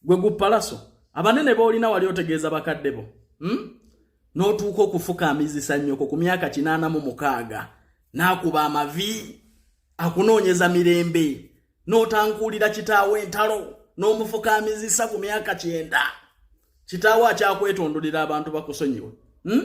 gwe gupalaso abanene boolina wali otegeeza bakadde bo hmm? n'otuuka okufukaamizisa nnyoko ku myaka kinaana mu mukaaga n'akuba amavi akunoonyeza mirembe n'otankuulira kitaawo entalo n'omufukaamizisa ku myaka kyenda kitaawo akyakwetondolera abantu bakusonyiwe hmm?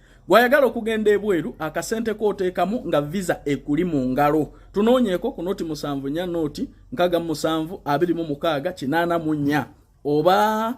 Gwayagala okugenda ebweru akasente kooteekamu nga visa ekuli mu ngalo. Tunoonyeeko ku noti musanvu nya noti nkaga musanvu abiri mu mukaaga kinaana mu nya oba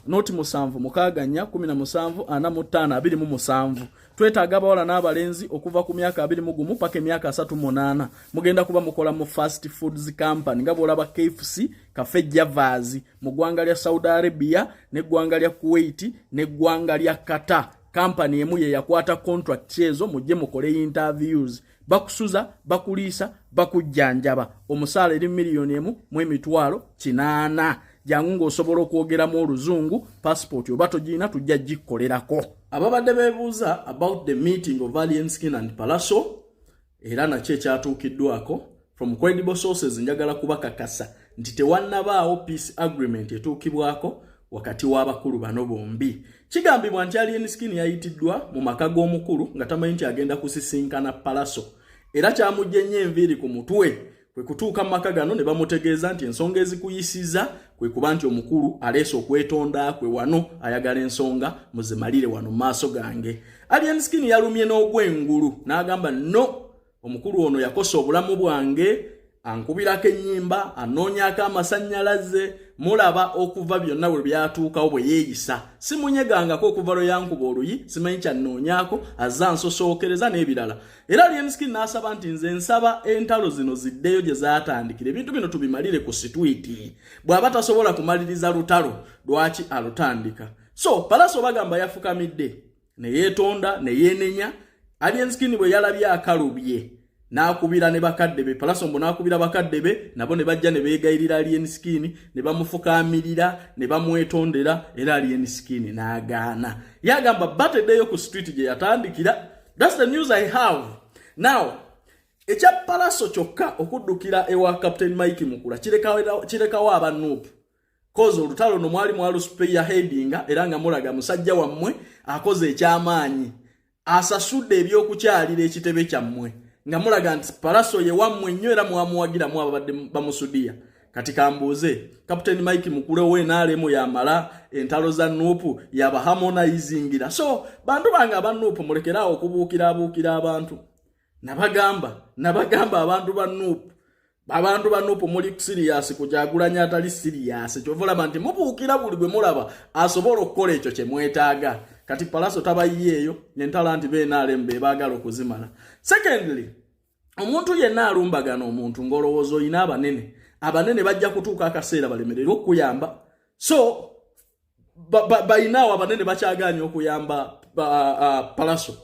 noti musanvu mukaaga nya kumi na musanvu ana mu ttaano abiri mu musanvu twetaaga abawala n'abalenzi okuva ku myaka abiri mu gumu paka emyaka asatu munaana mugenda kuba mukola mu fast foods company nga bwolaba kfc kafe javaazi mu ggwanga lya saudi arabia n'eggwanga lya kuwait n'eggwanga lya qatar kampani emu ye yakwata contracts ezo mujje mukole interviews bakusuza bakuliisa bakujjanjaba omusaala eri miliyoni emu mu emitwalo kinaana jangu ng'osobola okwogeramu oluzungu passport oba togirina tujja gikkolerako ababadde bebuuza about the meeting of alien skin and palaso era nakyo ekyatuukiddwako from credible sources njagala kubakakasa nti tewannabaawo peace agreement etuukibwako wakati w'abakulu bano bombi kigambibwa nti alien skin yayitiddwa mu maka g'omukulu nga tamanyi nti agenda kusisinkana palaso era kyamugye nnyo enviiri ku mutwe kwe kutuuka mu maka gano ne bamutegeeza nti ensonga ezikuyisiza kwe kuba nti omukulu aleese okwetonda kwe wano ayagala ensonga muzimalire wano mu maaso gange alien skin yalumye n'ogwengulu n'agamba no omukulu ono yakosa obulamu bwange ankubirako ennyimba anoonyako amasannyalaze mulaba okuva byonna bwe byatuukawo bwe yeeyisa simunyegangako okuva lwe yankuba oluyi simanyi kyannoonyako azza nsosookereza n'ebirala era lienskin n'asaba nti nze nsaba entalo zino ziddeyo gye zaatandikira ebintu bino tubimalire ku sitwiti bw'aba tasobola kumaliriza lutalo lwaki alutandika so palaso bagamba yafukamidde ne yeetonda ne yeenenya alienskin bwe yalabye akalubye n'akubira ne bakadde be palasombo n'akubira bakadde be nabo ne bajja ne beegayirira alien skin ne bamufukaamirira ne bamwetondera era alien skin n'agaana yagamba bateddeyo ku street gye yatandikira That's the news I have. Now, ekya palaso kyokka okuddukira ewa captain mike mukula kirekawo aba nup kozi olutalo no mwali mwalusupeya hedinga era nga mulaga musajja wammwe akoze ekyamaanyi asasudde ebyokukyalira ekitebe kyammwe nga mulaga nti palaso ye wammwe nnyo era mwamuwagiramu ababadde bamusudiya kati kambuuze captain mike mukulewo enaalemu yamala entalo za nuupu yaba harmonizingira so bantu bange aba nuupu mulekeraawo okubuukira abuukira abantu nabagamba nabagamba abantu ba nuupu abantu ba nuupu muli siriyasi kujagulanya atali siriyasi kyova olaba nti mubuukira buli gwe mulaba asobola okukola ekyo kye mwetaaga kati palaso tabayiyeeyo nentalo nti benaalemu be baagala okuzimala secondly omuntu yenna alumbagana omuntu ng'olowooza olina abanene abanene bajja kutuuka akaseera balemerere okukuyamba so balinaawo abanene bakyagaanya okuyamba palaso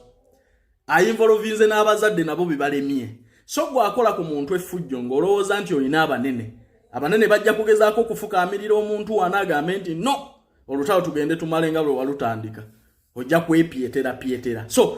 ayinvolovinze n'abazadde nabo bebalemye so gwakola ku muntu effujjo ng'olowooza nti olina abanene abanene bajja kugezaako okufukaamirira omuntu wana agambe nti no olutalo tugende tumale nga lwe walutandika ojja kwepyetera pyetera so